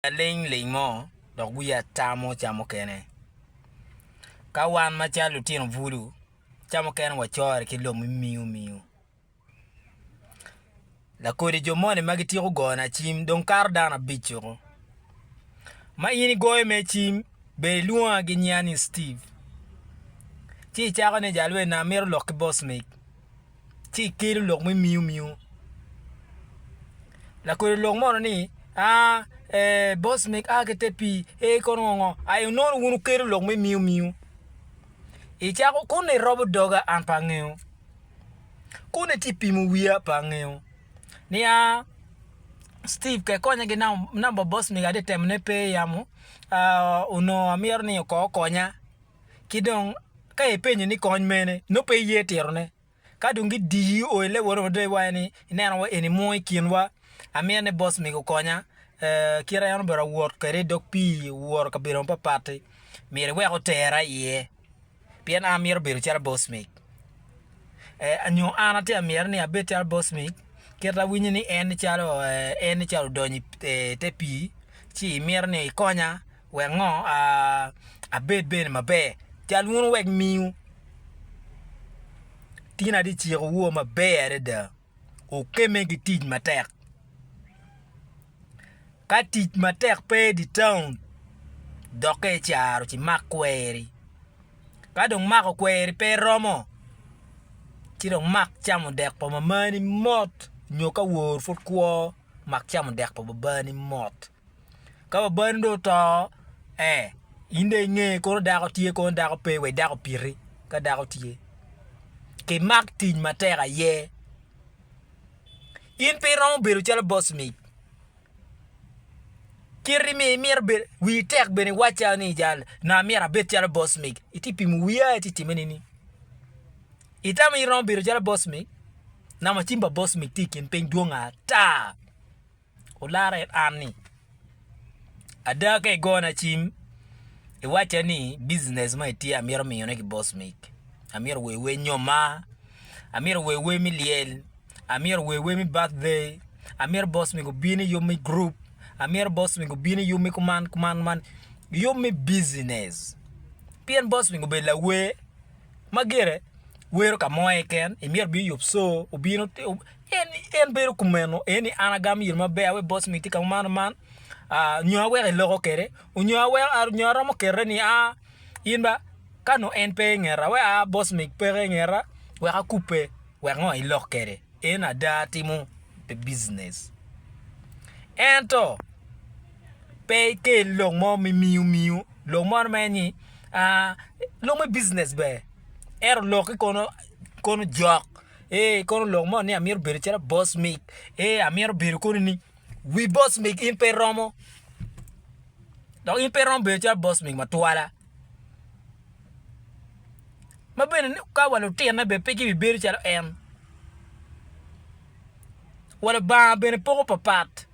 Aliny liny mo dok wiye ata mo ca mukene. Ka wan macalo lutino bulu, ca mukene wacorre ki lok me miyo miyo. Lakodi jo moni ma gityeko gona cim dong kato dano abic woko. Ma in igoyo mere cim, ber ilwonga gi nyinga ni Steve. Ci icako ni, Jalweny na, amito lok ki boss mig. ci ikelo lok me miu miu lakodo lok mono ni aa ee boss meg aa ki te pii ee kono ngo ngo aye inongo wun wukelo lok me miu miu icako kuni irobo doga an pe angeyo kuni iti pimo wiya pe angeyo niya Steve ke konya ki namba boss mega ati temo ne pe yamo aa onongo amito ni kong okonya ki dong ka ipenyo ni kony mene nongo pe iye titone. Ka dong gidiyi o i level mada iwaco ni ineno wa eni mo i kinwa amyero ni boss mego okonya, kit en obedo awot kwede i dog pii owoto i kabedo mapatpat-ti myero iwek otera iye pien an amyero obedo calo boss meg nyo an atye ka myero ni abed calo boss meg kit ma awinyo ni en nicalo odonyo i te pii ci imyero ni ikonya Wek ngo a abed bene maber cal wunu wek miu tina di ciko wo maber adada okeme ki tic matek ka tic matek pe di taun doke icaro ci mak kweri ka dong mako kweri pe romo ci dong mak camo dek pa mamani mot nyo ka wor pud kwo mak camo dek pa babani mot. Ka babani dong oto, ee, in dong inge kono dako tye kono dako pe wek dako opiti ka dako tye. Kimak tic matek aye. In pe iromo bedo calo boss mic. Kit ma imito bedo, wii tek bene iwac calo ni jal ni amyero abed calo boss mic, itye ka pimo wii aye ci itimone ni. Itamo ni iromo bedo calo boss mic? Namacin pa boss mic tye i kin piny dwong ata. olara it an ni, Ada ka igona cim, iwacca ni business ma itye amito miyone ki boss mig, amito wer wer nyoma, amito wer wer me lyel, amito wer wer me birthday, amito boss mig obin i yub me group, amito boss mig obin i yub me kuman kuman kuman, yub me business pien boss mig obedo lawer ma gire wero ka mo keken, imito obin i yub co obin En ni en bedo kumeno en ni an agamo yel maber awe boss mi tika man man nyo awek iloko kede onyo awek nyo aromo kete ni a in ba ka no en pe ingeta we a boss mi peke ingeta wek akube wek ngo ilok kede en ada timo pe business ento pe ikel lok mo mi miu miu lok mo mere ni a lok me business ber ento lok ki kono jok Ee, ikono lok mo ni amito bedo calo boss mig. Ee, amito bedo koni ni wi boss mig in pe romo. Dok in pe romo bedo calo boss mig matwala. Ma bene ni ka wa lutinne bene pe gibibedo calo en. wa Lubanga bene poko papat.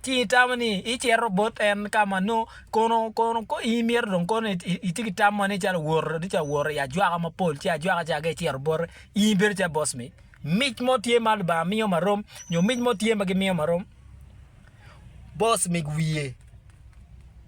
Ci itamo ni icito bot en ka ma nongo kono kono ko in imito dong kono itye ki tam moni calo woro ati ca woro i ajwaka mapol ci ajwaka ca ka icito bote in ibedo calo boss mi mic mo tye ma Lubanga miyo ma rom nyo mic mo tye ma gimiyo ma rom boss mi wiye.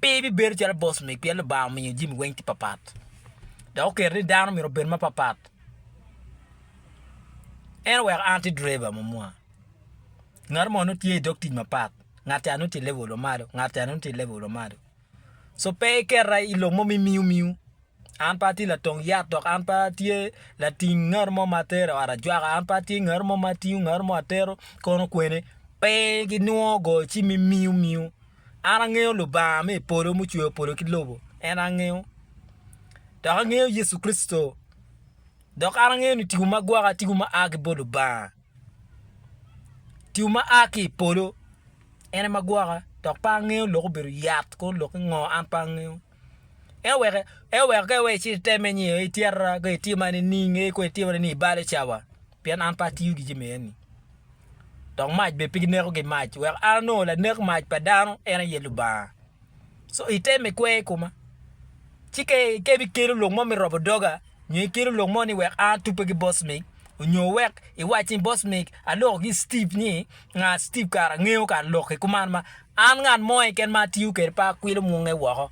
Pe ibibedo calo boss mig pien Lubanga omiyo jami weng tye papat dok oketo ni dano myero obed mapapat. En oweko an atye driver mo mua, ngat mo nongo tye idog tic mapat, ngat ca nongo tye level ma malo, ngat ca nongo tye level ma malo. So pe iketa i lok mo ma imiyo miyo. An pe atye latong yat dok an pe atye lating ngat mo ma atero i ot ajwaka, an pe atye ngat mo ma atingo ngat mo atero kono kwene. Pe ginwongo goyo cim me miyo miyo. An angeyo Lubanga me i polo mucweyo polo ki lobo, en angeyo. Dok angeyo Yecu Kricito. Dok an angeyo ni tipo ma gwoko tipo ma a ki bot Lubanga. Tipo ma a ki i polo en ema gwoka dok pe angeyo lok obedo yat kono lok ki ngo an pe angeyo. Ento wek ento wek ka iwee icit iteme nyo ityera ka itye ma nining ee kong itye ma nining ibalo cawa. Pien an pe atiyo gi jami eni, dok mac bene pe gineko ki mac, wek an onongo lanek mac pa dano, en aye Lubanga. Co item ikwer i koma, ci ka ibikelo lok mo me robo doga, nyo ikelo lok mo ni wek an atubbe ki boss mig, nyo wek iwac ni boss mig, aloko ki Steve ni, nga Steve kara angeyo kara lok ki kuman ma an ngat mo keken ma atiyo kwede pe akwilo munge woko.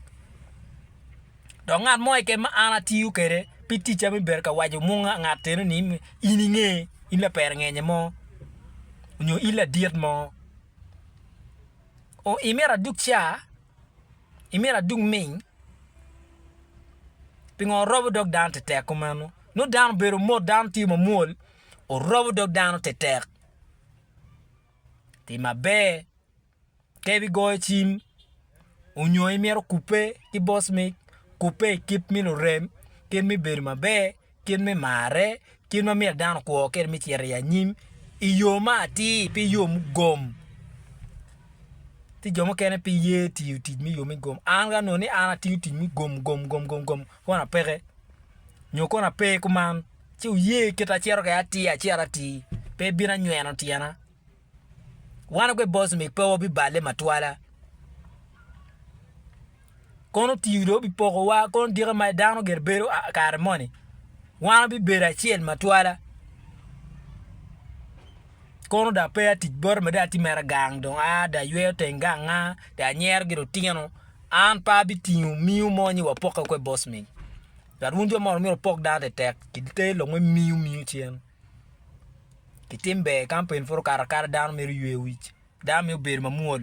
Dok ngat mo keken ma an atiyo kwede pi ticca me bedo ka waco munga ngat eno ni in inge, in laperengenye mo, nyo in ladit mo. O, imito adug ca? Imito adug ming? Pingo orobo dog dano tetek kumeno? Nongo dano obedo mot, dano tye mamwol, orobo dog dano tetek. Tim maber. ka ibigoyo cim onyo imito kubbe ki boss me kubbe i kit me lurem kit me bedo maber kit me marre kit ma myero dano okwo kwede me cito i anyim i yo ma atir pe i yo mugom ci jo mukene pe giye tiyo tic me yo mugom an ka anongo ni an atiyo tic me gom gom gom gom gom kono apeke nyo kono ape kuman ci wuye kita acito kwede atir acel atir pe ibino anyweno tyena Wan ogwe boss me pe wabibale matwala. Kono tiyo do bipoko wa kono dika ma dano gire bedo kare moni. Wan wabibedo acel matwala. Kono da pe atic bot mada atye mere gang dong a da ayweyo teng gang a da anyero gi lutino an pe abitingo miyo mo ni wapoke kwe boss me. But wun jo moni myero wupok dano tetek kite longe miyo miyo cen. Kitim ber kama peni pud okato akata dano mito yweyo wic, dano mito bedo mamwol,